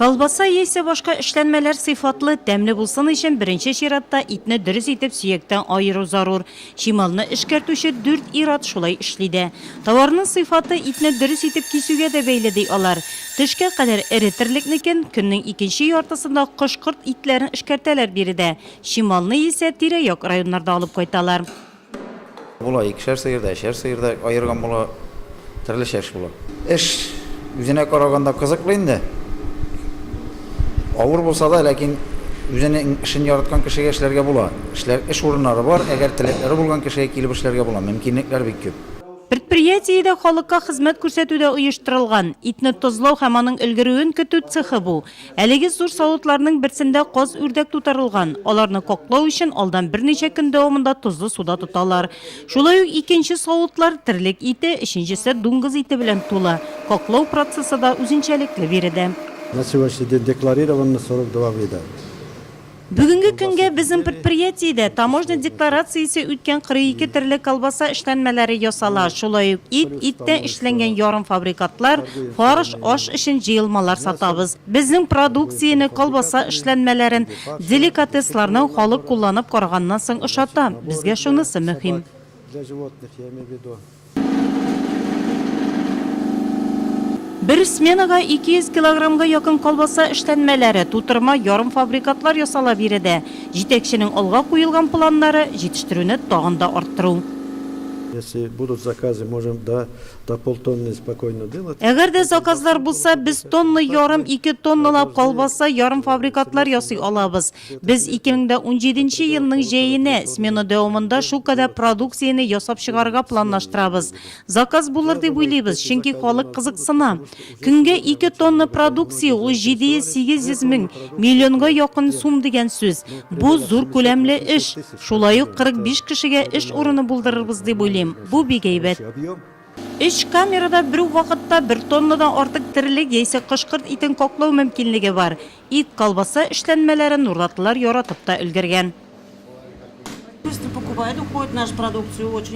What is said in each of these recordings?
Колбаса яисә башка эшләнмәләр сыйфатлы, тәмле булсын өчен беренче чиратта итне дөрес итеп сөяктән аеру зарур. Чималны эшкәртүче дүрт ир-ат шулай эшли дә. Товарның сыйфаты итне дөрес итеп кисүгә дә бәйле, ди алар. Төшкә кадәр эре терлекнекен, көннең икенче яртысында кош-корт итләрен эшкәртәләр биредә, чималны исә тирә-як районнарда алып кайталар. Була, икешәр сыер да, өчәр сыер да аерган була, төрлечә эш була. Эш үзенә караганда кызыклы инде. Авыр булса да, ләкин үзенең эшен яраткан кешегә эшләргә була. Эшләр, эш урыннары бар, әгәр теләкләре булган кешегә килеп эшләргә була, мөмкинлекләр бик күп. Предприятиедә халыкка хезмәт күрсәтү дә оештырылган. Итне тозлау һәм аның өлгерүен көтү цехы бу. Әлеге зур савытларның берсендә каз-үрдәк тутырылган. Аларны коклау өчен алдан берничә көн дәвамында тозлы суда тоталар. Шулай ук икенче савытлар терлек ите, өченчесе дуңгыз ите белән тулы. Коклау процессы да үзенчәлекле биредә. На сегодняшний день декларированный сорок два вида. Бүгенге көнгә безнең предприятиедә таможня декларациясе үткән 42 төрле колбаса эшләнмәләре ясала, шулай ук ит, иттән эшләнгән ярымфабрикатлар, фарш, аш өчен җыелмалар сатабыз. Безнең продукцияне, колбаса эшләнмәләрен, деликатесларны халык кулланып караганнан соң ошата. Безгә шунысы мөһим. Бер сменага 200 килограммга якын колбаса эшләнмәләре, тутырма, ярымфабрикатлар ясала биредә. Җитәкченең алга куелган планнары, җитештерүне тагын да арттыру. Если будут заказы, можем до до полтонны спокойно делать. Әгәр дә заказлар булса, без тонна ярым, ике тонналап колбаса, ярымфабрикатлар ясый алабыз. Без 2017 нче елның җәенә, смена дәвамында шул кадәр продукцияне ясап чыгарырга планлаштырабыз. Заказ булыр дип уйлыйбыз, чөнки халык кызыксына. Көнгә ике тонна продукция, ул 700-800 мең, миллионга якын сум дигән сүз. Бу, зур күләмле эш. Шулай ук 45 кешегә эш урыны булдырырбыз дип уйлыйм. Бу бик әйбәт. Өч камерада бер үк вакытта бер тоннадан артык терлек яисә кош-корт итен каклау мөмкинлеге бар. Ит, колбаса эшләнмәләрен нурлатлылар яратып та өлгергән.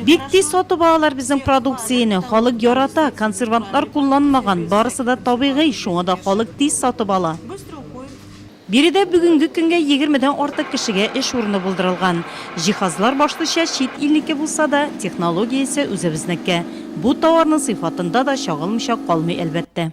Бик тиз сатып алалар безнең продукцияне, халык ярата, консервантлар кулланмаган, барысы да табигый, шуңа да халык тиз сатып ала. Биредә бүгенге көнгә егермедән артык кешегә эш урыны булдырылган. Җиһазлар башлыча чит илнеке булса да, технология исә үзебезнеке. Бу тауарның сыйфатында да чагылмыйча калмый, әлбәттә.